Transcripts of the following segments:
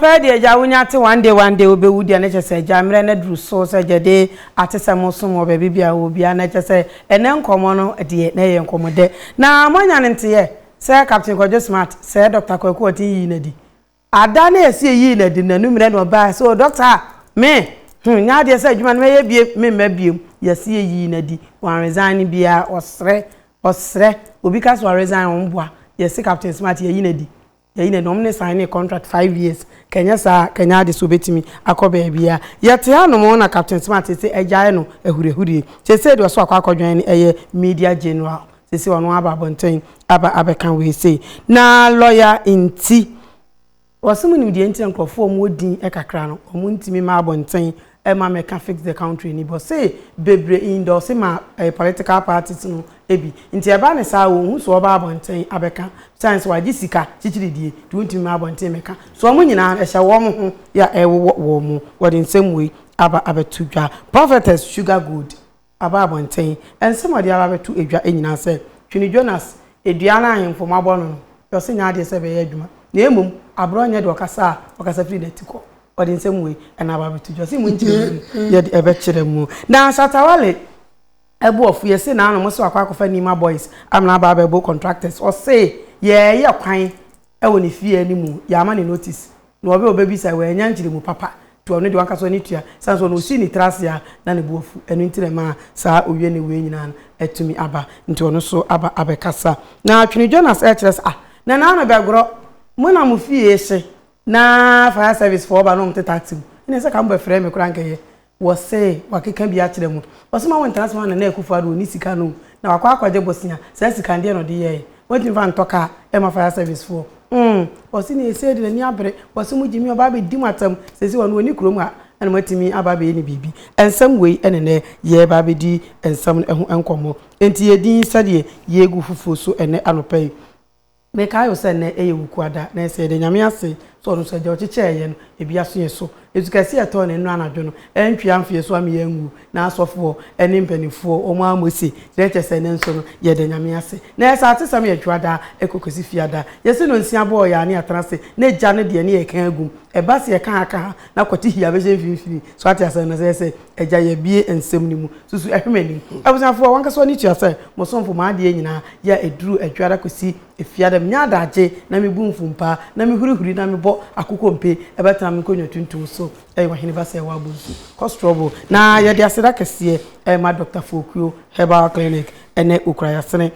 Papa deɛ agya wonya ate one day one day wobɛwu deɛ ne kyɛ sɛ agya mmerɛ no aduru so sɛ agya de atesɛm resom wɔ baabi bia wɔ bia na kyɛ sɛ ɛnɛ nkɔmmɔ no deɛ na ɛyɛ nkɔmmɔ dɛ na moanya ne nteɛ sɛ Captain Kwadwo Smart sɛ Doctor Kwaku Ɔten yii no adi Ada ne Asie yii no adi no anummerɛ na ɔbaeɛ sɛ, O dɔkta a, me, hmm, nnyɛ adeɛ sɛ adwuma no mɛyɛ biem, memma biem. Yasie yii no adi, wanresign biara, ɔsrɛ, ɔsrɛ, obi ka sɛ ɔresign a, ɔmmoa. Yɛse Captain Smart yɛayi no adi, yɛayi no adi, wɔn ne signee contract five years, ka ɛnyɛ saa a, ka ɛnyɛ ade sɛ ɔbɛtumi akɔ baabiara. Yɛte hanom na Captain Smart se agyae no ahuriahurie, seesei deɛ ɔso akɔ akɔdwɛn no yɛ Media General. Seesei ɔno aba abɔnten aba abɛka wei sei. Na lɔya nti, wɔse mo nim deɛ nti a nkurɔfoɔ a wɔwɔ din kakra no, wɔn ntumi mma abɔnten mma mmɛka fix the country ni. Bɔse bebree indorse ma ɛɛ political parties no bi. Nti ɛba no saa a, wɔn hu so wɔba abɔnten abɛka. Besides nso wɔagye sika kyikyiridie nti wɔntumi mma abɔnten mmɛka. So wɔn nyinaa no ɛhyɛ wɔn ho ya ɛrewowɔ wɔn. Wɔde nsɛm wei aba abɛto dwa. Prophetess Sugar Gold. aba abɔnten. Nsɛm a wɔde aba abɛto dwa nyinaa sɛ Twene Jonas, Dua no a ahemfo mma bɔ no no, deɛ ɔse nyɛ adeɛ sɛ ɛbɛyɛ adwuma, na mmom abrɛ ɔnyɛ deɛ ɔkasa a ɔkasa firi n'ati kɔ. Ɔde nsɛm wei na aba abɛto dwa. Ɔse mo nkyerɛmu no yɛde ɛbɛkyerɛ mo. Na Shatta Wale abu afu. Yɛse n'ano, mose wakɔ akɔfa Nima Boys amena aba abɛbo contractors. Ɔse yɛɛyɛ kwan wɔ ne fie a ne mu yɛama no notice na ɔbɛ ɔbɛbisa wɔ annya nkyerɛmu papa nti ɔno deɛ wankasa ɔne tua sane sɛ ɔno ɔsii ne tiri ase a na ne bo afu ɛno nti na ɛmaa saa ɔwie ne wei nyinaa no atumi aba nti ɔno so aba abɛkasa na Twene Jonas ɛkyerɛ sɛ ah na naa me bɛgorɔ mo na mo fie hye na fire service foɔ ba na ɔmo teta atew ɛne sɛ ka mo bɛfrɛ me koraa nka ɛyɛ Wɔse wakeka bi akyerɛ mo. Wɔse ma wɔntra ase ma Nana Akuffo Addo ne sika no o. Na wakɔ akɔgye bosea. Saa sika no deɛn na ɔde yɛɛe? Wantumi mfa antɔ car ɛmma fire service foɔ? Umm! Wɔse nea ɛsei de n'ani abere. Wɔse mo Gyimii ɔba abɛdi mo atɛm. Seisei ɔno ɔnni kurom ha ɛna moatumi aba abɛyɛ no biribi. Nsɛm wei ɛne nnɛ yɛreba abɛdi nsɛm no ho nkɔmmɔ. Enti yɛn din sɛdeɛ yɛregu foforɔ so ɛnnɛ anɔpa yi. Mekae o sɛ nnɛ yɛ Wukuwa da, na ɛsɛ yɛda Nyame ase sɛ ɔno nso agya ɔkyekyɛɛ yɛn no, ebi aso yɛn so. Esukɛseɛ a ɛtɔɔ ne nnora anadwo no, antwi amfe yɛn so ama yɛn anwuo, na asɔfoɔ ne mpaninfoɔ wɔn ara mose, dɛn kyerɛ sɛ nnɛ nso no yɛda Nyame ase. Na yɛsɛ atesɛm yɛ Dwoada kɔ kɔsi Fiada. Yɛse no nsia bɔɔ yɛn ane atena ase, na Agya no deɛ ne yɛka agum. Ɛba sɛ yɛka ha ka ha, na kwati hia bɛhyɛ mfimfini. So ate asɛm no? Sɛ yɛsɛ Agya, yɛabue nsɛm no mu. Susu ɛhwɛ m'anim. Abusuafoɔ, wankasa w'ani tua sɛ, mo somfo, m'adeɛ nyinaa, yɛ a ɛduru Adwuada kɔsi Efiada, menya adagye na mebu mfumpaa, na mehurihuri na mebɔ akokompe, ɛbɛtena me nkonnwa tuntum so, ɛyɛ Ɔhene ba sɛ woabɔ nsu. Kɔ Strawbo. Na yɛde aseda kɛseɛ rema Dɔkta Fokuo Herbal Clinic ne Okrayasene.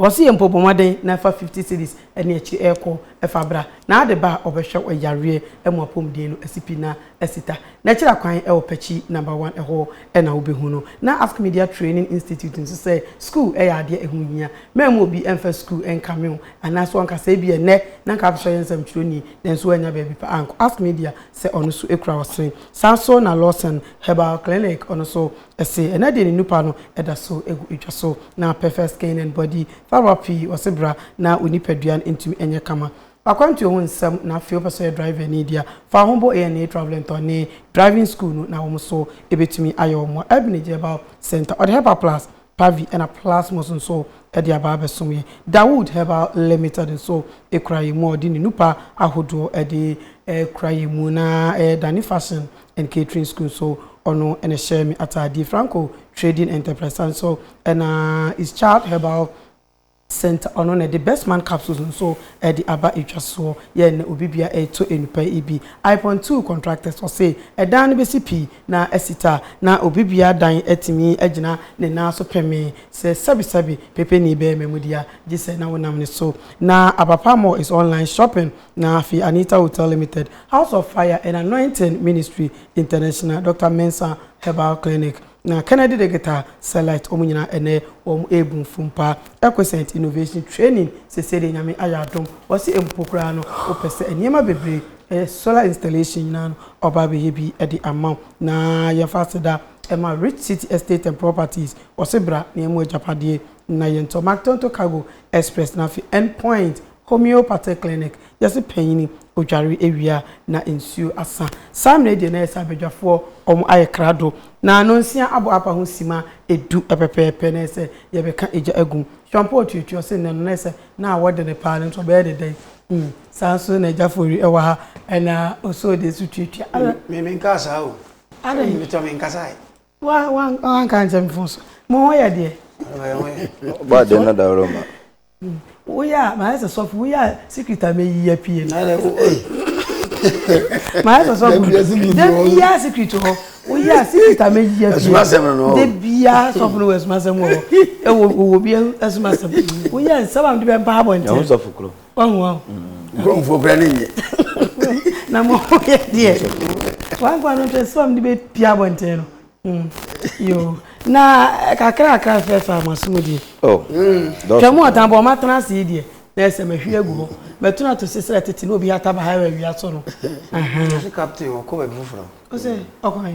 Ɔse yɛ mpo bɔ mmɔden na fa fifty cedis ɛne akyiri ɛɛkɔ ɛfa bra na ade ba a ɔbɛhwɛw ɛyareɛ ɛmu apɔmuden no ɛsi pi na ɛsi ta na ɛkyerɛ akwan ɛwɔ pakyi number one ɛhɔ ɛna wobɛhu no na ask media training institute nso sɛ school ɛyɛ adeɛ ɛho hia mammu obi ɛmfa school ɛnkame wo anaa so anka sɛ ebi ɛnnɛ na anka afehyɛ ɔyɛ nsɛmtwerɛni nanso wannya baabi pa ankɔ ask media sɛ ɔno so ɛkura ɔsene saa nso na lawson herbal clinic ɔno so Ese ɛnɛ deɛ ne nupa no da so gu edwa so na pɛfɛ skin and body therapy wɔse bra na wo nipadua no ntumi nyɛ kama. W'akwantuo ho nsɛm na afei wopɛ sɛ ɔyɛ driver ni deɛ a, fa wo ho bɔ ANA Travelentɔ ne driving school no na wɔn nso bɛtumi ayɛ wo mmoa. Elbinage Herbal Centre ɔde Herbal Plus, Pavi ɛna Plasmos nso de aba abɛsom yɛn. Dawood Herbal Limited nso kura yɛn mu a ɔde ne nupa ahodoɔ de kura yɛn mu na ɛdane fashion and Catering School so ɔno na ɛhyɛ me ataadeɛ Franco Trading Enterprise and so ɛna is Child Herbal Center ɔno na ɛde Best Man Capsules nso ɛde aba ɛtwa soɔ yɛ na obi bia ɛretɔ enupa ibi Ipon Two Contractors ɔse ɛdan no bɛsi pii na asi ta na obi bia dan atumi agyina ne nan so pɛme sɛ sɛbi sɛbi pɛpɛ ni bɛyɛ mamudia gye sɛ na wonam ne so na Abapa Mall is online shopping Na afei Anita Hotel Limited, House of Fire and Anointing Ministry International, Doctor Mensah Herbal Clinic, na Kennedy Digital Select, wɔn nyinaa ɛnnɛ wɔrebu mfom paa. Equiscent Innovation Training, seesei deɛ Nyame ayɛ adom, wɔse mpo koraa no wopɛ sɛ nneɛma bebree, ɛyɛ solar installation nyinaa no, ɔba abɛyɛ bi de ama wo. Na yɛmfa aseda ma Rich City Estate and Properties, wɔse bra na yɛmma wo agyapadeɛ, na yɛntɔ Mactonto Cargo Express, na afei End Point homeopathic clinic, yɛse panyini odware awie a na nsuo asa. Saa mmerɛ yi deɛ na ayɛ sɛ abadwafoɔ wɔn ayɛ krado na nonsia abɔ apa ho sima du pɛpɛɛpɛ na ayɛ sɛ yɛbɛka egya agu mu. Hwampɔ otuatua ɔse nnɛ no na ayɛ sɛ na awɔde no paa no nti ɔbɛyɛ no dɛn? Hmm, saa nso na Agya Foweri wɔ ha na Osoo deɛ nso tuatua. Adɛn? Me menkaa saa o. Adɛn? Meteɔ menkasae. wanka nkyɛ mfo so mo ho yɛ deɛ ba de na dawuro ma woyɛ a mayɛ sɛ sɔfo woyɛ a secret a meyi apue no mayɛ sɛ sɔfo da biaa secret hɔ woyɛ a secret a meyi apue da biaa sɔfo no wɔ asumasɛm wɔ hɔ ɛwɔ wɔ bi asumasɛm woyɛ a nsɛm a mede bɛmpa abɔnten wahu ahu nkurɔmfoɔ kora ne nye na mo ho yɛ deɛ wankoa no hwɛ sɛ ɔmde bɛpia abɔnten no hmm. yo na eh, kakrakra fɛfa maso mu deɛ oh. hmm. twɛ mu ɔtan bɔ ɔmatena ase yi deɛ na ɛsɛ mahwi agu hɔ matunu ato se srɛ tete na obi ataba ha wɔ awia so no ɔse captain ɔkɔ baabi foforɔ ɔsɛ ɔkɔ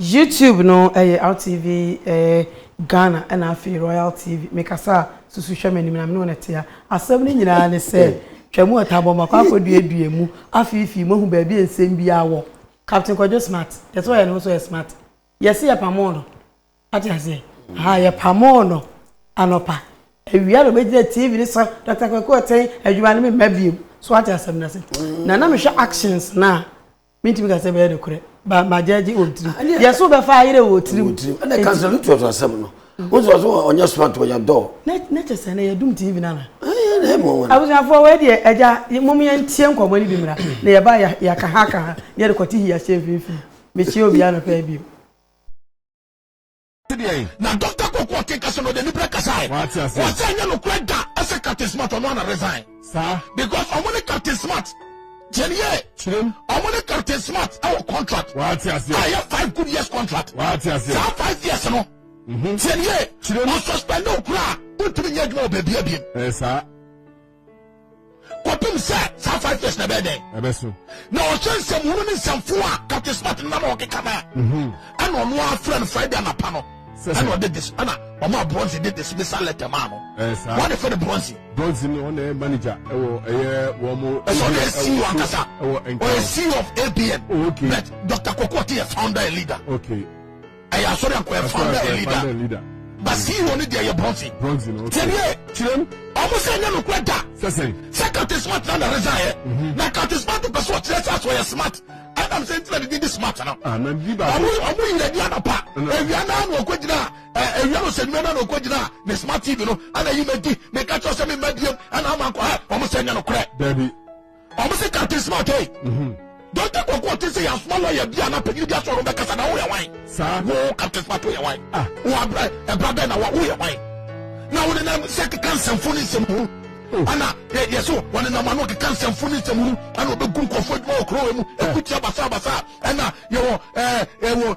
YouTube no yɛ RTV Ghana ɛna afei Royal TV mekasa a susu hwɛ m'anim na me ne wɔn ɛtea asɛm no nyinaa ne sɛ twam ɔtabɔ makɔ akɔduadua mu afeefee moahu baabi a nsɛm biara wɔ Captain Kwadwo smart yɛsɛ ɔyɛ ne ho sɛ ɔyɛ smart yɛse yɛpamoo no ate aseɛ ha yɛpamoo no anɔpa awia na ɔbɛgyina TV ne sɛ Dr. Kwaku Ɔtɛn adwuma no memma biom so ate asɛm no ase na na mehwɛ actions no a Mentumi ka sɛ ɛbɛyɛ nokorɛ, ba magyɛgye wɔ tirim. Ah, Yɛ so bɛfa ayerɛ wɔ tirim. Wɔ tirim. Ɛna kansɛn no tuatua asɛm no. Mm. Wosɛ ɔsɛ ɔnyɛ smart ɔyɛ dɔɔ. Na kyɛ sɛ na yɛdum TV no ana. Abusuafoɔ wei deɛ agya mom yɛntie nkɔmmɔ no bi mmra na yɛba yɛaka ha ka ha na yɛde kɔte hi ahyɛ mfimfini. Mekyia obiara nɔpɛ bio. deɛn. na dɔkta kɔkɔ ɔte kasa no ɔde anibere kasae Wate ase. wɔsɛ ɛnyɛ nokorɛ da ɛsɛ captain smart ɔno ana resign saa because ɔmo ne captain smart tiɛn yie kyerɛm ɔmo ne captain smart ɛwɔ contract wate a aseɛ ɛyɛ five good years contract wate aseɛ saa five years no tiɛn yie Kyerɛ mu. ɔsuspend wo koraa wontumi nyɛ adwuma wɔ baabi abiem ɛyɛ saa kɔpem sɛ saa five years na ɛbɛyɛ dɛn ɛbɛso na ɔhyɛ nsɛmhunu ne nsɛmfo a captain smart no na na ɔkeka no a mhm. ɛna ɔno afrɛ no friday anapa no ɛna ɔde dis ɛna ɔma bronze de dismissal letter maa no wɔde fɛ no bronze bronze no ɔna ɛyɛ manager ɛwɔ ɛyɛ wɔn mo ɛsɛ ɔna yɛ ceo ankasa ɔyɛ ceo of abn oh, okay but dr kɔkɔɔ te yɛ founder and leader okay ɛyɛ asɔre anko yɛ founder and leader ba ceo ne deɛ yɛ bronze tiɛniɛ kyerɛm ɔmo sɛ ɛnyɛ nokorɛ da sɛ captain smart na na resign yɛ mhm. na captain smart pɛ so ɔkyerɛ sɛ aso ɔyɛ smart ɛnam sɛ ntina didi di smart no ah, ɔmo yira di anapa ewia naa na ɔkɔ gyina ewia no sɛ nnua naa na ɔkɔ gyina ne smart tv no ɛna yi ma di meka kyerɛ sɛ me ma diem ɛna ama nkɔ ha ɔmo sɛ ɛnyɛ nokorɛ ɔmo se captain smart ei dɔnta kɔkɔ ɔte sɛ yasoma lɔya bi a na panyini bi asɔ no bɛkasa na woyɛ wan wo captain smart woyɛ wan ah. wo abrɛ ɛbra bɛn na wa woyɛ wan na wo nenam sɛ keka nsɛmfo ne nsɛm hunu oh. ana yɛ so wɔne nam ano keka nsɛmfo ne nsɛm hunu ana ɔbɛgu nkɔfoɔ adwuma wɔ kurowa mu ɛkutia basabasa ɛna yɛwɔ ɛwɔ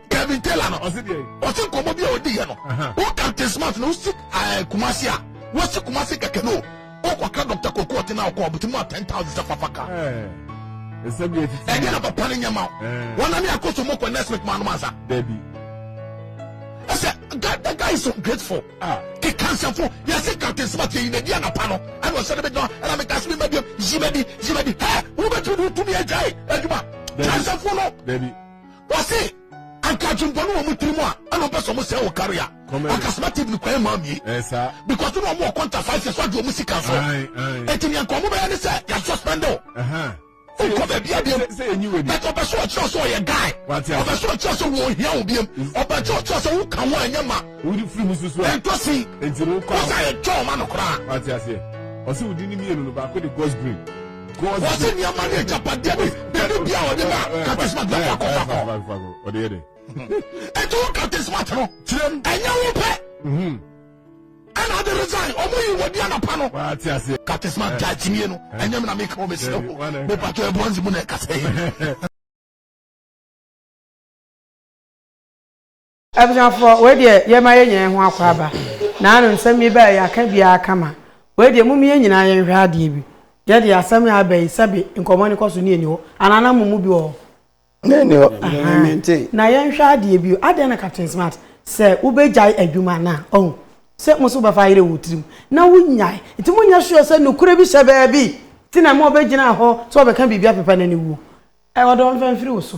Kevin Taylor no ɔsi deɛ ɔsi nkɔmɔ bi a odi yɛ no o Captain Smart na osi ɛɛ eh, Kumasi a wosi Kumasi kɛkɛ no o kɔka Dr. Koko ɔte na ɔkɔ ɔbuti mu a ten thousand sɛ fafa ka eh, ɛdi na papa ne nyɛma eh. wɔn nane akoso mu kɔ next week maa no ma nsa ɛsɛ the guy is so grateful ah. keka nsɛmfo yɛse Captain Smart yɛyi n'adi anapa no ɛna ɔhyɛ no bɛgyina ɛna meka so mema biam yi madi yi madi hɛ wobɛtumi ne wotumi agyae adwuma kansɛfo no Wɔse anka adwembɔne wɔ mo tirim a ɛna ɔpɛ sɛ ɔmo sɛe wo kari a akasoma tv no kwan mmaa mie because na ɔmo wɔ kɔnta five years wagye ɔmo sika so eti nea nka ɔmo bɛyɛ ne sɛ yɛ suspend o nkɔ baabi abiem but ɔpɛ sɛ ɔkyerɛ sɛ ɔyɛ guy ɔpɛ sɛ ɔkyerɛ sɛ wɔn ohia wo biem ɔpɛ sɛ ɔkyerɛ sɛ woka ho a ɛnyɛ ma ɛntɔsi ɔsɛ yɛ twɛ ɔma no koraa ɔsɛ wodi ne mmienu no baako de ghost green Wɔse nneɛma ne agyapadeɛ ne dade bi a ɔde ma katesmat na fa kɔ fa kɔ. Ɔde yɛ dɛ. Ɛti wo katesmat no. Kyerɛm. Ɛnyɛ wo pɛ. Mhm. Ɛna ade resign ɔmo yi wɔ di anapa no. Waa ti ase. Katesmat gya kyimie no. Ɛnyɛ mi na mi ka o mesi o. Mi patɔ ɛbɔ nzi mu na ɛkasa yi. Abusuafoɔ, wei deɛ yɛma yɛnya yɛn ho akwaaba, naano nsɛm yi bɛɛ yɛaka biara kama, wei deɛ mom yɛn nyinaa yɛnhwɛ adeɛ bi, yɛ deɛ asɛm yi aba yi sɛbe nkɔmmɔ no kɔ so ne ɛni hɔ, anaa na momu bi wɔ hɔ? Na ɛni hɔ, mente. Na yɛnhwɛ adeɛ bio, adɛn na Captain Smart, sɛ wobɛgyae adwuma no a, ɔhu sɛ mo nso wobɛfa ayerɛ wɔ wo tirim, na wonyae, nti monyɛ sure sɛ nokorɛ bi hyɛ baabi nti na ɛma ɔbɛgyinaa hɔ sɛ ɔbɛka biribi apepa no aniwuo, ɔde ɔmfa mfiri wo so.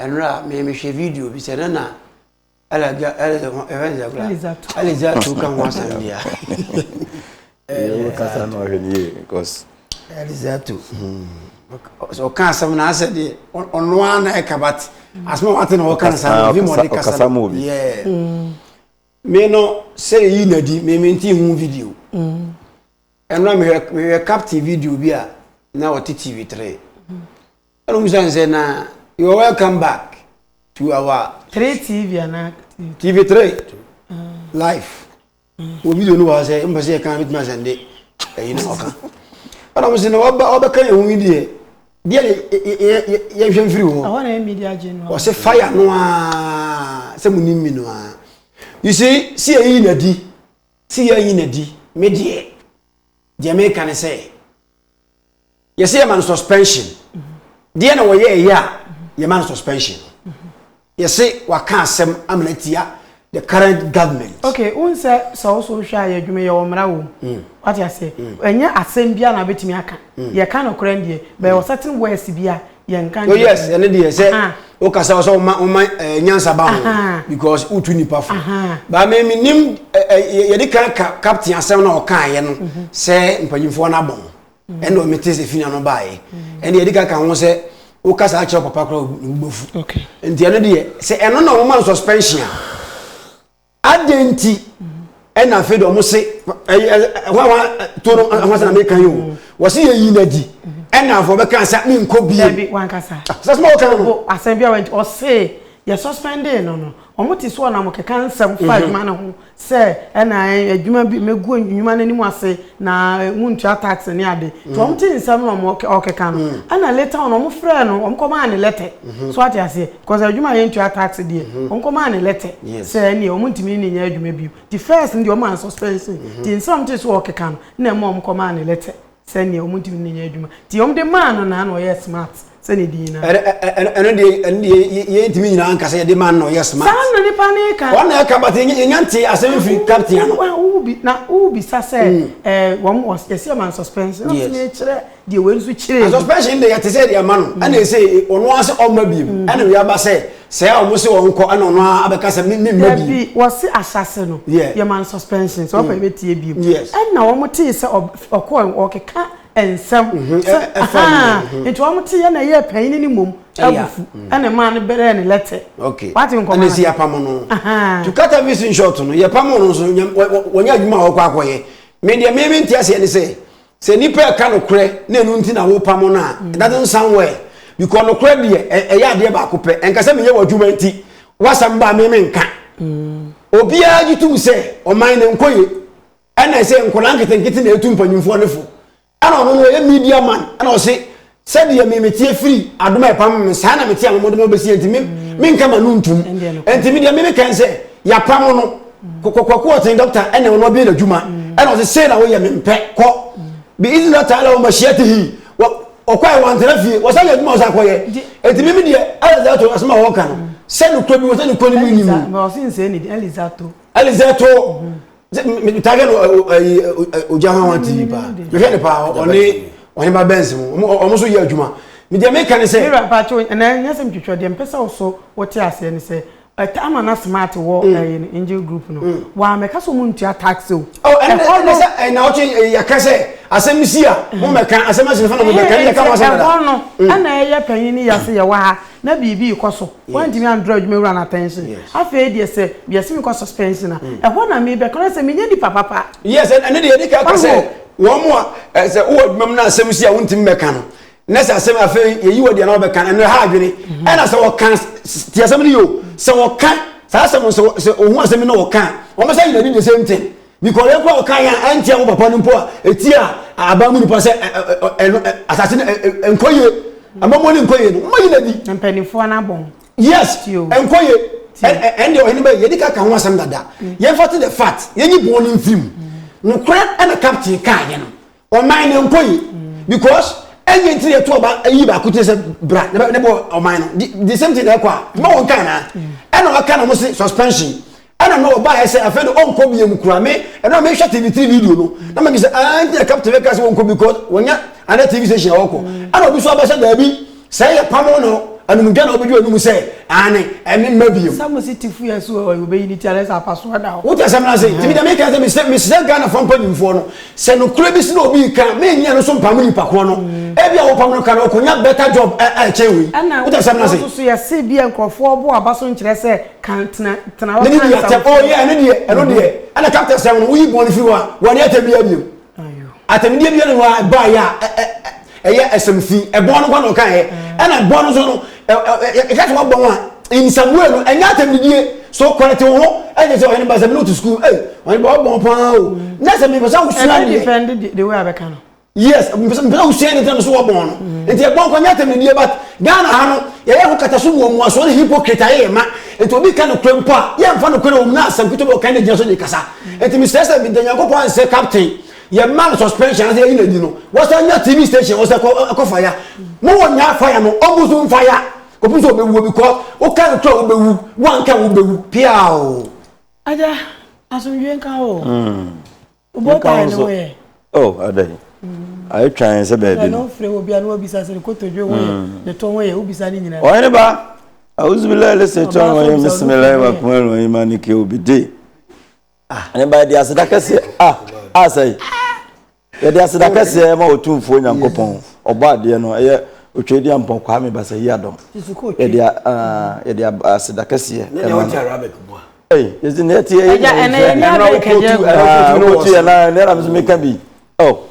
Ɛnora me me hwɛ video bi sɛ na na ɛlɛga ɛlɛza ho ɛfɛn sɛ kura ɛlɛza tu ka ho asɛm bi a. Ɛyɛ kasa na ɔhwɛ ne yie because. Ɛlɛza tu sɛ ɔka asɛm na asɛ deɛ ɔno ara na ɛka bat asɛm a wate na ɔka nsa bi ma ɔde kasa no yɛ me no sɛ yi na di me me nti hu video ɛnora mehwɛ mehwɛ captain video bi a na ɔte tv three. Ɛwom sɛ nsɛ na you are welcome back to our. Three TV anaa TV. TV three live wɔ video no wɔ ha sɛ mpɛ sɛ yɛ kan bituma sɛ nde ɛyi na ɔka ɛna mo sɛ na ɔba ɔbɛ kan ɛho yi deɛ deɛ ne yɛ yɛ yɛ nhwɛ mfiri hɔ. Ɛhɔ na yɛ media gye no. Ɔsɛ fire no aa sɛ mo ni mi no aa you see si yɛ yi na di si yɛ yi na di me deɛ deɛ meka ne sɛ. yɛsɛ yɛma no suspension deɛ na wɔyɛ ɛyɛ a yɛma no suspension yɛsɛ waka asɛm amena atia the current government. okay n sɛ sɛ woso wohwɛ a yɛ adwuma yɛ wɔ mmara wɔ mu mm. wate aseɛ mm. ɛnyɛ asɛm bia na wobɛtumi aka mm. yɛka nokorɛ deɛ bɛyɛ wɔ certain words bi a yɛnka nkyerɛ. Oh yes, ɛne deɛ sɛ wokasa wɔ sɛ woma woma eh, nyansa ba ho because wotu nipa fo. Ba me menim eh, eh, yɛde kan ka captain asɛm na ɔkaeɛ no mhm. sɛ mpanyimfoɔ no abɔ ho mhm. ɛne ɔmete sɛ fina no baeɛ mhm. ɛne yɛde ka ka ho sɛ wokasa akyerɛ papa kora wobɛfu nti ɛno deɛ sɛ ɛno na woma no suspension a adɛn nti ɛna afei de wɔn se hwan hwan to no ho asɛm na meka yi o wɔsi yɛ yi na di ɛna afɔ bɛka sɛ mi nkɔ bie dabi wankasa sɛ sɛ ɔka no asɛm bi a wɔn ɔse yɛ suspendee no no wɔn ti so ɔnam keka nsɛm fa adwuma no ho sɛ ɛna adwuma bi megu adwuma no anim ase na mu ntua tax ne ade nti wɔn ti nsɛm na wɔn ɔkeka no ɛna later wɔn wɔn frɛ no wɔn kɔmaa ne lɛtɛ so ate aseɛ. Cause adwuma a yɛntua tax deɛ wɔn kɔ maa no lɛtɛ sɛ ɛneɛ wɔn ntumi ne no nyɛ adwuma bio nti first no deɛ wɔn maa no suspension nti nsɛm a wɔn tee so wɔ ɔkeka no na ɛma wɔn kɔ maa no lɛtɛ sɛ ɛneɛ wɔn ntumi ne no nyɛ adwuma nti wɔn de maa no na na ɔyɛ smart sɛ ne din na ɛno ɛno ɛno deɛ ɛno deɛ yɛ- yɛ- yɛntumi nyinaa nka sɛ yɛde ma no na ɔyɛ smart saa na nipa no reka wɔn na ɛka but yɛnya yɛnya nte asɛm firi captain ano Wa- wo bi- na wobisa sɛ eh, wɔn wɔ- yɛsi wɔn ma no suspension na Yes. ɔsi mekyerɛ deɛ wei nso kyerɛ yi. suspension de yɛte sɛ deɛ ma no mm. ɛna ɛsɛ ɔno ara sɛ ɔma biem mm. ɛna wei aba sɛ sɛ a wɔn se wɔn kɔ ɛna ɔno ara abɛka sɛ mimi mma biem. dabi wɔsi ahyase no yɛ man suspension sɛ ɔfɔ ebe tie biem ɛna wɔn te sɛ ɔkɔ ɔkeka nsɛm mm-hmm. sɛ ahan mm-hmm. nti wɔn te yɛ na ɛyɛ panyin ne mom abufu mm. ɛna maa no bɛrɛ ne lɛtɛ wate nkɔmɔ ɛna si apam no to kata bi si nshɔt no yɛ pam no nso wɔnyɛ adwuma a wɔkɔ akɔyɛ mɛ deɛ mɛmɛ nti aseɛ ne sɛ. Sɛ nipa ɛka nokorɛ na ɛno nti na wopamo no a, it doesn't sound well. Because nokorɛ deɛ ɛ- ɛyɛ adeɛ baako pɛ. Ɛnka sɛ meyɛ w'adwuma nti, w'asɛm ba a me menka. Obiara gye tom sɛ ɔman no nkɔ ye. Ɛna ɛsɛ nkwadaa nketenkete na ɛtu mpanyinfoɔ no fo. Ɛna ɔno no ɔyɛ media man ɛna ɔse Sɛdeɛ me meteɛ firi adom a ɛpam me saa na mete a mɔmɔde mɔ bɛsi nti menka ma no ntum nti medeɛ me mekɛn sɛ yɛapam no kɔkɔkɔkɔ ɔten dɔkta ɛna ɔno ɔbɛyɛ n'adwuma ɛna ɔsɛ sei na woyɛ mempɛ kɔ bi izi la taala wɔ mahyia te hi ɔkɔ a wɔantena fie wɔsan yɛ adwuma ɔsan kɔyɛ ɛti mimi deɛ alizato asɛm a wɔka no sɛ nokorɛ bi wɔ sɛ nokorɛ no mu nni mu alizato target no ɛyi ogya hwan hwan tv paa mehwɛ ne paa ɔne ɔne ba bɛnsi mu ɔmo so yɛ adwuma mi deɛ meka ne sɛ. mi wura paa kyɛw ɛnna nyɛ sɛ mitwitwa deɛ mpɛ sɛ ɔso wɔte aseɛ ne sɛ ɛtɛ ama na smart wɔ ɛyɛ no angel group no wɔn amɛka sɛ wɔn ntua tax o. ɛhɔ no ɛna ɔtwe yɛka sɛ asɛm si a mo mɛka asɛm asi ne fa na mo mɛka ne yɛka mo asɛm dada. ɛhɔ no ɛna ɛyɛ panyin ne yɛse yɛwɔ ha. na biribi rekɔ so, wantumi an draw adwuma wura no attention, afei deɛ sɛ yɛse mekɔ suspension a, mm. ɛhɔ na mebɛka no sɛ menyɛ nipa papa. Yes, ɛne deɛ yɛde ka ka sɛ wɔn mu a sɛ wowɔ adwuma mu na asɛm si a wontumi mɛka no na sɛ asɛm afei yɛyi wɔ deɛ na wɔbɛka no ɛno ha adwene mhm. ɛna sɛ wɔka te asɛm no yio sɛ wɔka saa asɛm sɛ ohun asɛm bi na wɔka wɔn sɛ yɛn ani the same thing. Mekɔree mpo a ɔkae a ɛnteɛ wo papa no mpo a ɛtia aban mu nipa sɛ ɛno asase no ɛnkɔ yie amamuo no nkɔ yie no moyi no adi. Mpanimfoɔ no abɔ ho. Yes ɛnkɔ yie ɛnde ɔhene bɛyi yɛde ka ka ho asɛm dada yɛmfa to the fact yɛnyi bɔn no mfiri mu nokorɛ ɛna captain kaeɛ no. ɔman no nkɔ yi because ɛnyɛ ntiri yɛ to ɔba ayi baako ti sɛ bra ne bɛ ne bɔ ɔman no di the same thing ɛkɔ a ma wɔn kan na ɛna ɔka na wɔn se suspension ɛna na ɔba yɛ sɛ afɛn no ɔnkɔ bi yɛ mu kura me ɛna ɔmo ehwɛ tv three video no na ma mi sɛ ɛn ti yɛ captain bɛ ka sɛ wɔn kɔ because wɔn nya ana tv station ɔkɔ ɛna obi so aba sɛ daabi. Sɛ yɛ pamo no anum dwa na ɔbɛdwa anum sɛ aane ɛne mma bio. Sɛ mo se te fu yɛ so ɔ yɛ ɔbɛyi ne ti anɛ sɛ apasoɔ da hɔ. Wote asɛm no ase? Nti me deɛ meka sɛ mesrɛ mesrɛ Ghanafoɔ mpanyimfoɔ no sɛ nokorɛ bi si na obi reka a menni ɛno so mpamo nipa korɔ no. Ɛbi a wopam no ka no ɔkɔnya better job a a ɛkyɛn wei. Ɛna Wote asɛm no ase? wɔsoso yɛse bi a nkorɔfoɔ ɔbo aba so nkyerɛ sɛ ka tena tena hɔ Mede ka di atɛm nsɛm oh yeah ɛno deɛ ɛno deɛ ɛna captain sɛ woyi bɔn no firi hɔ a wɔne atɛm biara biom. Atɛmdeɛ biara hɔ a ɛbaeɛ a ɛyɛ asɛm fi ɛbɔɔ no kɔ na ɔkaeɛ ɛna ɛbɔɔ no so no ɛka sɛ wɔbɔ ho a in some way no ɛnyɛ atɛmdidie so kɔrɛte wo ho ɛnyɛ sɛ ɔhene ba sɛ mene wote sukuu ei ɔhene ba wɔbɔ ho paa o na sɛ mepɛ sɛ wosua deɛ yes mpɛ sɛ wosua ne tɛm so wɔ bɔn no nti ɛbɔn kɔ nyɛ atɛmdidie but ghana ha no yɛyɛ ho kata so wɔ mu asoɔ ne hypocrite ayɛ yɛ ma nti obi ka no korɛ mpo a yɛmfa no korɛ wɔ mu na asɛm ketewa bi ɔka ne gyina so de kasa Nti mesrɛ sɛ meda Nyankopɔn ase sɛ captain yɛma no suspension anaasɛ yɛyi n'adi no wɔsan nya tv station wɔsɛ kɔ fa ya mowɔ nya fa ya no ɔmo so mfa ya kɔpem sɛ ɔbɛwuo because woka no kora wobɛwu woanka wobɛwu piaa o agya asomdwe nka o wobɔ taa no woyɛ Oh adɛn? Ayɛ twa yɛn sɛ baabi no. Ɔfrɛ wɔ bi a na wabisa sɛ ne kotodwe ho yɛ, ne to ho yɛ, wobisa ne nyinaa. Ɔhene ba, awuzubilai lese twa wɔn yɛ bisimilahi wa kuma wɔn yi ma ne ke obi de. Ne ba yɛde aseda kɛseɛ a a sɛe yɛde aseda kɛseɛ ma otumfuo nyankopɔn ɔbɔ adeɛ no ɛyɛ otwa di ampɔ kwame basa yi adɔm yɛde yɛde aseda kɛseɛ ɛma no. Hey, it's in that year. Yeah, and then you know, can you go to your line? Then I'm making be. Oh,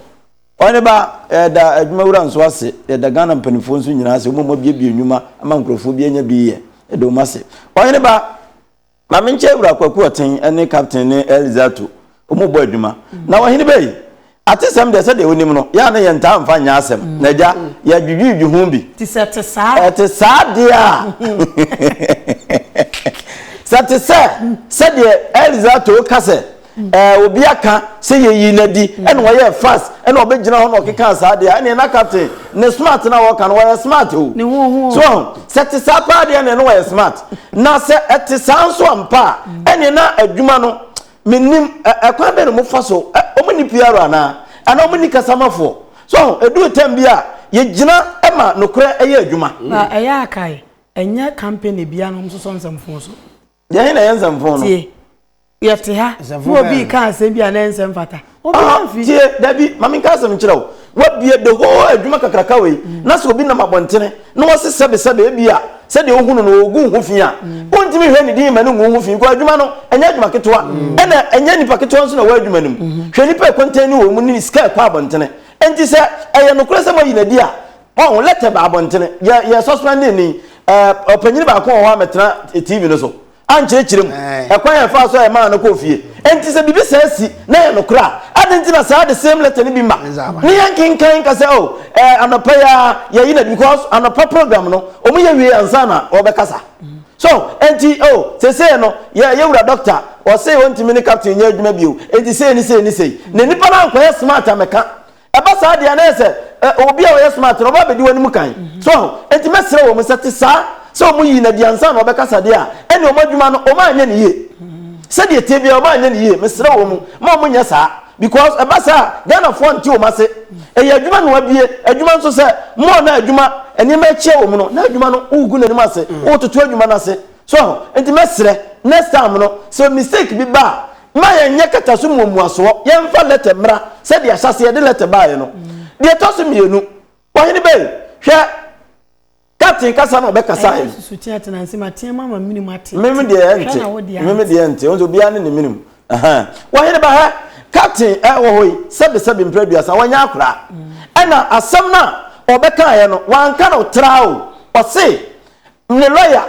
ɔne ba ɛda adwuma wura nso ase ɛda ghana mpanimfoɔ nso nyinaa ase wɔn a wɔabiebie nnwuma ama nkurɔfoɔ bi anya bi yɛ ɛda wɔn ase ɔne ba maame nkyɛn wura kwaku ɔten ɛne captain ne elizato Wɔn bɔ adwuma. Na ɔhene bɛyi. Atesɛm deɛ sɛdeɛ wonim no, yɛ a na yɛntaa mfa nyɛ asɛm. Na agya, yɛadwidwidwi ho bi. Te sɛ ɛte saa. Ɛte saa deɛ a. Sɛ te sɛ sɛdeɛ Elza Too ka sɛ, ɛɛ, obi aka sɛ yɛyi no adi, ɛna ɔyɛɛ fast, ɛna ɔbɛgyina hɔ na ɔkekaa saa deɛ a, ɛnneɛ na captain, ne smart no a wɔka no, ɔyɛ smart o. Ne ho ho o. So wahu? Sɛ ɛte saa paa deɛ a, ɛnneɛ na ɔyɛ smart. Na sɛ ɛte saa nso ampa a, ɛnneɛ na adwuma no, mennim ɛ ɛkwan bɛn na wɔn fa so ɛ wɔn nni PR anaa anaa wɔn nni kasamafoɔ so ɛduru tɛm bi a yɛgyina ɛma nokorɛ ɛyɛ adwuma. Na ɛyɛ a kae ɛnyɛ company biara na wɔn sosɔ nsɛmfoo so. Deɛ he na ɛyɛ nsɛmfoo no? Tie, yɛte ha na obi reka asɛm bi a na ɛnsɛ mfata. tie dabi ma menka asɛm nkyerɛ wo wabie the whole adwuma kakraka wei mm. na sɛ obi nam abɔntene na wɔse sɛbesɛbe bi a sɛdeɛ wohunu no ɔgu ho fi a mm. wontumi hwɛ ne din ma no ngu ho fi nkɔ adwuma no ɛnyɛ adwuma ketewa mm. ɛna ɛnyɛ nipa ketewa nso na wɔ adwuma no mu mm-hmm. hwɛ nipa ɛkɔntɛn ne wɔ mu ne sika ɛkɔ abɔntene ɛnti sɛ ɛyɛ nokorɛ sɛ moayi nadi a ɔho lɛtɛ ba abɔntene yɛ suspending ni ɔpanyini baako wɔ hɔ a mɛtena tv no so ankyerɛkyerɛ mu ɛkwan a ɛfaa so a ɛmaa no kɔɔ fie. Enti sɛ biribi saa si na ɛyɛ nokorɛ a, adɛn nti na saa the same letter no bi mma ne yɛnkenkan nka sɛ oh ɛɛ anɔpa yi ara yɛyi no adi because anɔpa program no wɔn yɛ wie ansa na wɔbɛkasa. So enti oh sesei no yɛ yɛ wura doctor ɔsei ɔntumi ne captain nyɛ adwuma bio enti sei ne sei ne sei na nipa no ankɔyɛ smart ammɛka Ɛba saa deɛ a, na ayɛ sɛ obi a ɔyɛ smart no, ɔba abɛdi w'anim kan. So ahu? Enti mɛsrɛ wɔn sɛ, te saa, sɛ wɔn yii no adi ansa na wɔbɛkasa deɛ a, ɛnneɛ wɔn adwuma no, wɔanyɛ no yie. Sɛdeɛ ɛteɛ biara, wɔanyɛ no yie. Mesrɛ wɔn, mma wɔnyɛ saa. Because ɛba saa a, Ghanafoɔ nte wɔn ase. Ɛyɛ adwuma na wɔabue, adwuma nso sɛ, more na adwuma, nneɛma akyia wɔn no, na adwuma no, woregu n'anim ase, woretoto adwuma no ase. So ahu? Enti mɛsrɛ, next time no, sɛ mistake bi ba a, Mma yɛnyɛ kataso mu omuasoɔ, yɛmfa lɛtɛ mmra sɛdeɛ ahyɛaseɛ yɛde lɛtɛ baeɛ no. Deɛ ɛtɔ so mmienu, Ɔhene Bey, hwɛ, Captain kasa na ɔbɛkasaeɛ Ɛyɛ no. susuteɛ tena ase ma teɛ ma ma minimu ate Me me te. deɛ Hwɛ ɛnte, na wo deɛ me me ante. deɛ ɛnte, wo nso obiara ne ne minimu. Ahaa. Ɔhene ba hɛ, Captain a ɛwɔ hɔ yi, sɛbesɛbe mprɛ aduasa, wanya akora. Ɛna asɛm no a ɔbɛkaeɛ no, wanka no traa o. Ɔse, ne lɔya,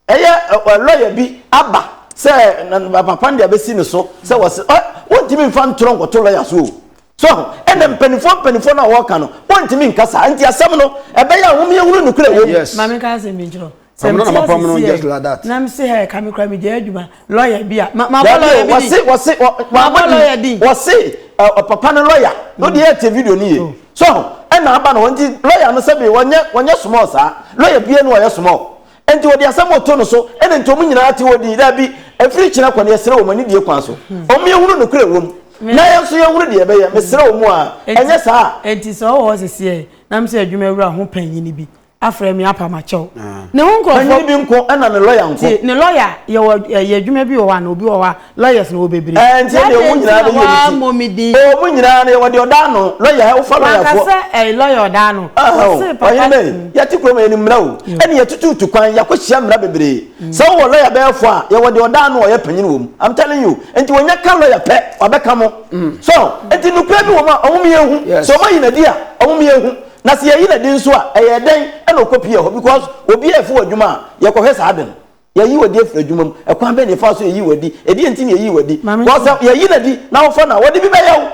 Ɛyɛ ɛ lɔya bi aba sɛ na na papa no de abɛsi ne so sɛ wɔse ɛ wontumi mfa ntorɔ nkɔto lɔya so o. So ahu? Ɛna mpanimfoɔ mpanimfoɔ no a wɔreka no, wɔntumi nka saa. Nti asɛm no, ɛbɛyɛ a hom yɛhunu nokorɛ a ɛwɔ mu. Yes. Maame nka asɛm bi nkyerɛ wo. Sɛ Ɔno na mete ase mapam no just like sieɛ that. na mese hɛɛ ka me koraa megyae adwuma, lɔya bi a, ma mabɔ Dabi lɔya o, bi din? wɔse wɔse wɔ wɔ Mabɔ abɔ lɔya din? din? Wɔse ɛ ɔ papa no lɔya no deɛ yɛte video no yie. So ahu? Ɛna aba no hɔ nti lɔya no sɛbe wɔnyɛ wɔnyɛ small saa. Lɔya biara nni hɔ a ɔyɛ small. Enti wɔde asɛm bɔ too no so, ɛnna enti wɔn nyinaa tew hɔ dii. Dabi, ɛfiri kyena kɔ no, yɛsrɛ wo ma nidie kwan so wɔn yɛhunu nokorɛ a ɛwɔ mu, na yɛn nso yɛhunu deɛ yɛbɛyɛ. Mesrɛ wo mu a, ɛnyɛ saa a. Enti sɛ ɔwɔ hɔ seseɛ na me sɛ adwuma wura ho panyin bi afrɛ me apa makyɛ wo. Ne ho nkurɔfoɔ. Panyin bi nko ɛnna ne lɔya nko. Tie, ne lɔya, yɛwɔ ɛyɛ adwuma bi wɔ hɔ anaa obi wɔ hɔ a Lawyers no wɔ bebree. Ɛɛ nti ɛdeɛ ɔmo nyinaa bɛyi ɔmo ti. Ɔmo din. Ɔmo nyinaa no yɛwɔ deɛ ɔda ano. Lawyer wofa lawyer foɔ. Wakasa ɛɛ lawyer ɔda ano. Ɔse papa. Ɔhene bɛyi yɛte kurom yɛnim mmra o. Ɛna yɛtututu kwan yɛakɔ hyia mmra bebree. Sɛ wowɔ lawyer bɛyɛ foɔ a yɛwɔ deɛ ɔda ano a ɔyɛ panyin wɔ mu. I'm telling you. Nti wɔnya ka lawyer pɛ wabɛka mo. So nti nokorɛ bi wɔ mu a ɔmo meyɛ nhu. Sɛ ɔmo ayi nadi a ɔmo meyɛ nhu. Na sɛ yɛyi nadi nso a ɛyɛ dɛn ɛna ɔkɔ pie hɔ because obiara ɛfo wɔ adwuma a yɛkɔhwɛ saa ade no. Yɛyi w'adi afiri adwuma mu. Ɛkwan bɛn na yɛfa so yɛyi w'adi? Ɛdeɛ nti na yɛyi w'adi? Because sɛ yɛyi no adi na wofa no a, wɔde bi bɛyɛ wo.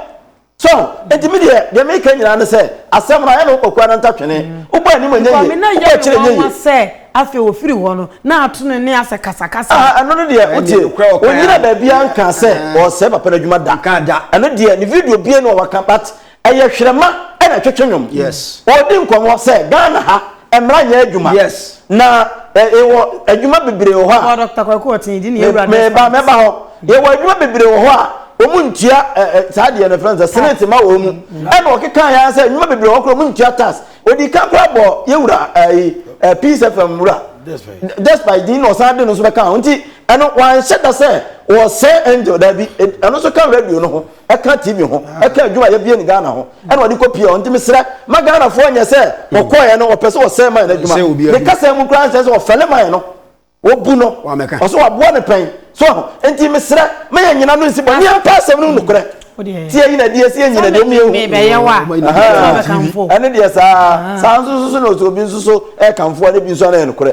So ho? Enti me deɛ, deɛ mereka nyinaa ne sɛ, asɛm no, ayɛ ne wo kɔkoa no ntatwene. Wobɔ anim a, ɛnyɛ yie. Wobɔ akyire a, ɛnyɛ yie. Sɛ afei ɔfiri hɔ no, na ato ne nne asɛ kasakasa. Ah, ɛno no deɛ, wotie, ɔnnyina baabiara nkaa sɛ ɔresɛe papa no adwuma da. Ɛno deɛ, ne video bie no a waka, but ɛyɛ hwerɛma ɛna twetwe nwom ɔdi nkɔmmɔ sɛ ghana ha mmara nyɛ adwuma na ɛwɔ adwuma bebree wɔ hɔ a meba mɛba hɔ yɛwɔ adwuma bebree wɔ hɔ a wɔn ntua saa deɛ no fɛn sɛ senate ma wɔn mu ɛna ɔkeka yɛn sɛ adwuma bebree wɔ hɔ koraa wɔn ntua tax odi kan koraa bɔ yɛwura ɛyi ɛɛ peace fm wura despite din na ɔsan de no nso bɛka ho nti ɛno wɔn ahyɛ da sɛ wɔsɛ angel dabi ɛno nso ka radio no ho. ɛka TV ho ɛka adwuma a yɛbie no Ghana ho ɛna ɔde kɔ pie hɔ nti mesrɛ ma Ghanafoɔ nyɛ sɛ ɔkɔɛ no ɔpɛ sɛ ɔsɛe man no adwuma ne kasa mu koraa nsɛ sɛ ɔfɛle man no wɔbu no ɔsɛ waboa no pɛn so nti mesrɛ ma yɛ nyina no nsi bɔ neɛ mpa asɛm no nokorɛ ti yɛ nyina deɛ si yɛ nyina deɛ meyɛ hu ɛne deɛ saa saa nso nso so na ɔsɛ obi nso so ɛkamfoɔ ne bi nso ana yɛ nokorɛ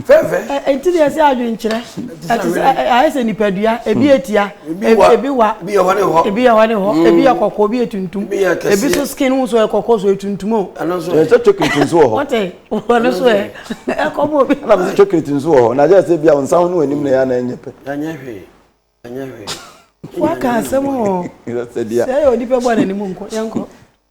fɛfɛ ɛnti deɛ sɛ adwenkyerɛ Ɛte sɛ ayɛ sɛ nipadua, ebi yɛ tia, ebi wa, ebi yɛ hɔ ne hɔ, ebi yɛ hɔ ne hɔ, mm. ebi yɛ kɔkɔɔ, ebi yɛ tuntum, ebi so skin ho so yɛ kɔkɔɔ so yɛ tuntum o. Ɛno nso yɛ sɛ chocolate nso wɔ hɔ. Wɔte wɔn so yɛ ɛkɔm obi. Ɛna mo sɛ chocolate nso wɔ hɔ na yɛ sɛ bi a wɔn nsa ho ne wɔn anim na yɛ anan nyɛ pɛ. Ɛnyɛ hwee, ɛnyɛ hwee. Waka asɛm o. Sɛ yɛ onipa bɔ n'anim nkɔ yɛn kɔ.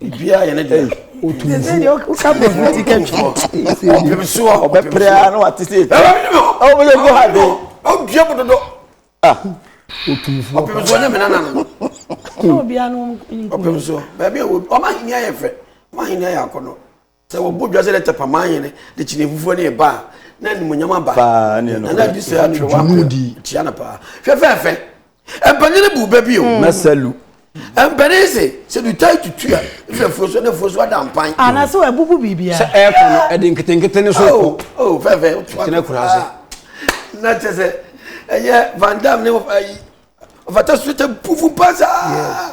biribiara yɛ ne dea woka bɔfo ti kɛtwɔpem so a ɔbɛpere a na wate se wobɛyɛ gu ha de ɔdua mu dodo ɔpem so ɔnyɛ mena nano ɔpem so baabi a ɔma henia yɛ fɛ ɔma henia yɛ akɔnɔ Sɛ wɔbɔ dwa sɛ dɛ Tɛpɛaman hene de kyene afufuo ne eba a, na animuonyam aba. Paa, ne yɛ nokorɛ. Nana Adu sɛ atwerɛ wɔ Dwuma akoa. di. Tia no paa. Hwɛ fɛɛfɛ. Mpanin no bu bɛ bi o. Na Salu. Mpanin se, sɛ dutan tutu a, efi afuo so, na afuo so ada mpan. Ah, na sɛ wabubu biribiara. Sɛ ɛrekɔ no, ɛde nketenkete no so kɔ. Oh, oh, fɛɛfɛ. Woto Ɛtena ato akuraa ase. paa. Na kyɛ sɛ, ɛyɛ Van Damme ne ayi, ɔfata so tɛ pufu paa saa.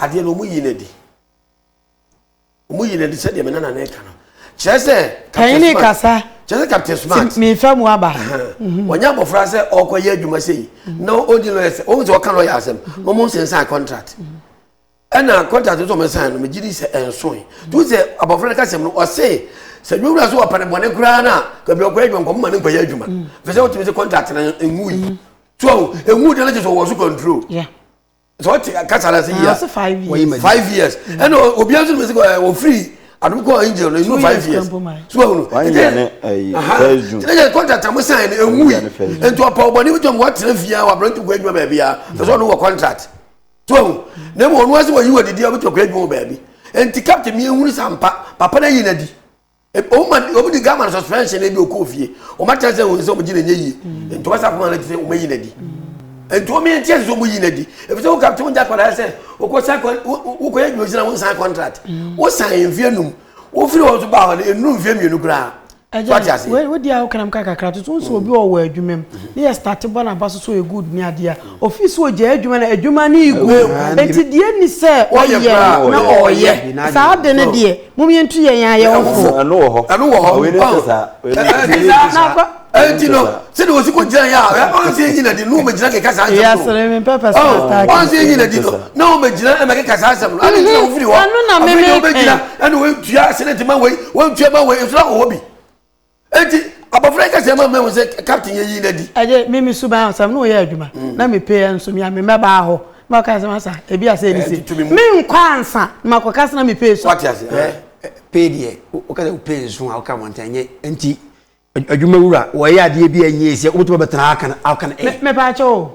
adeɛ no wɔyi no adi wɔyi no adi sɛdeɛ me nana no ka no kyerɛ sɛ panyini kasa kyerɛ sɛ captain smart mefa mu aba mhm. wɔnyɛ abɔfra sɛ ɔkɔyɛ adwuma sɛ yi mhm. na ɔdi lɔyɛ sɛ ɔhu sɛ ɔka lɔyɛ asɛm mhm. na ɔmo nsensan contract ɛna contract nso ɔmo san no megye di sɛ ɛnsoe tu sɛ abɔfra no kasɛm no ɔse sɛ nwura so ɔpɛ ne bɔne koraa no a kabi ɔkɔyɛ adwuma nkɔmɔ ma ne nkɔyɛ adwuma fɛ sɛ wotumi sɛ contract no ɛnwu yi so ɛnwu deɛ no kyɛ sɛ ɔwɔ so control sɛ ɔte kasa na se yia wɔyi ma five years ɛna mm. obiara nso mesi ɛ ofiri adum kɔ angel na enu five years so ahunu ɛdɛ ɛdɛ contract a mo sign no ewu yi nti ɔpɛ ɔbɔni bi tɔm wɔtena fie a wabere nti kɔ adwuma baabi a ɛsɛ ɔno wɔ contract so ahunu na emu ɔno ase wɔyi wɔ didi a ɔbɛtɔ kɔ adwuma wɔ baabi nti captain mi ehunu sampa papa na yi na di. wɔn ma wɔn di gama suspension ebi okɔ ofie wɔn akyerɛ sɛ wɔn sɛ wɔn gyina nye yie mm. nti wɔn sɛ akoma na ti sɛ wɔn ayi na di mm. nti wɔn yɛn nkyɛn sɛ wɔn yi na di ebi sɛ wɔn ka wɔn gya kɔla sɛ wɔkɔ sa kɔ wɔkɔ yɛ adwuma gyina wɔn san contract mm. wɔn san mfie num wɔn firi wɔn so ba hɔ no enu mfie mmienu koraa ɛgya wodi a wokanam ka kakra toto nso mm. obi ɔwɔ adwuma mu ne yɛ starte bɔ n'aba so so yɛ good ne adeɛ a mm. ofi so ogya adwuma na adwuma ne egu eti deɛ ni sɛ ɔyɛ na ɔyɛ saa de ne deɛ Mom yɛn tu yɛn ayɛ wo fo. Ɛno wɔ hɔ. Ɛno wɔ hɔ. Wei ne nte saa. Wei ne nte saa. Ɛnti no sɛde wɔsi ko gyina yɛ a ɔnse enyi na di no wɔn gyina keka saa nsɛm no. Yasere mi pɛpɛ sɛ ɔtaa kɛ. Ɔnse enyi na di no na wɔn gyina ɛna keka saa nsɛm no. Adi nti na wɔn firi hɔ. Ɛno na mimi kɛn. Ɛna wɔn ntua sɛnɛti ma wɔn ntua ma wɔn nso na wɔn wɔ bi. eti abɔfra yi kasa ma mehu sɛ captain yɛ yi n'adi. ɛgye mi mi suban asɛm na ɔyɛ adwuma mm. na mi pe yɛ nso mi a mi mɛ baa hɔ ma ɔka sɛ masa ebi ase ɛni se mi nkɔ ansa ma kɔ kasa na mi pe so. wati ase ɛ pe deɛ o kasa o pe nso a o ka wɔn tɛn nye nti adwuma wura wɔyɛ adeɛ bi a nye sɛ o tuma bɛ tena akan akan ɛ. mɛ paa kyɛw o.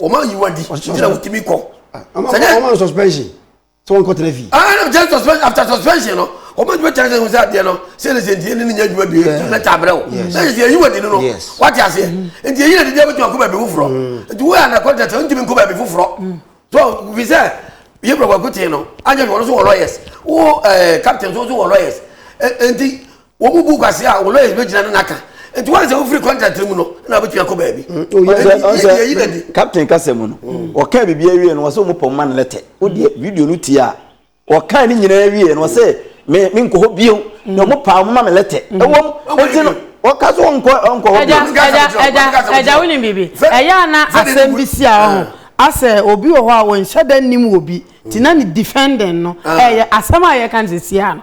wɔn ayi wɔn adi nti na wotumi kɔ. sɛnyɛ wɔn ma suspension sɛ wɔn kɔ tẹnɛ fi. aa na jẹ suspension after suspension no wɔn ma jẹ tẹnɛ sẹ adeɛ no sẹ ne sẹ ntiɛ ne ne nya adwuma bi yɛ lẹta abirɛ o sẹ yɛ sẹ ayi wɔn adi no no wate aseɛ nti eyi na didi abɛtuma kɔ baabi foforɔ nti wo yɛ ana kɔ tẹtẹ ntumi nkɔ baabi foforɔ so bi sɛ yɛ bɛrɛ kɔ kote no anyɛ wɔn nso wɔ lawyers wo ɛɛ captain nso wɔ lawyers nti. wɔn mu bu kwasi a wɔn lawyers bɛ gyina no n'aka nti wɔn sɛ wofiri contract mu no na wobɛtumi akɔ baabi yɛyi na di captain kasa mu no wɔka biribi awie no wɔsɛ wɔn pɔn ma no lɛtɛ wodeɛ video no tie a wɔka ne nyinaa awie no wɔsɛ me me nkɔ hɔ bio na wɔn paa wɔn ma me lɛtɛ ɛwɔm ɛnti no wɔka so wɔn nkɔ nkɔ hɔ bio ɛgya ɛgya ɛgya wo ni biribi ɛyɛ ana asɛm bi si a ɔho asɛ obi wɔ hɔ a wɔn nhyɛ dɛ nim wɔ bi ti na ne defendant no ɛyɛ asɛm a yɛ kan sɛ si a no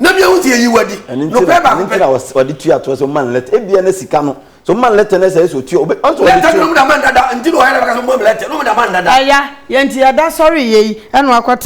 na bia wosi eyi wadi nokorɛ baako pɛ. ɛno nti na ɔde tua toɔ sɛ ɔma no lɛtɛ ebia na sika no so ɔma no lɛtɛ na ɛsɛ ɛsɛ ɔtua ɔbɛ ɔsɛ ɔde tua. lɛtɛ no mu da ma ndada nti na ɔyɛ dɛ bɛka sɛ ɔma mu lɛtɛ no mu da ma ndada. ɛya yɛ nti yɛda sɔre yɛ yi ɛna wakɔ te.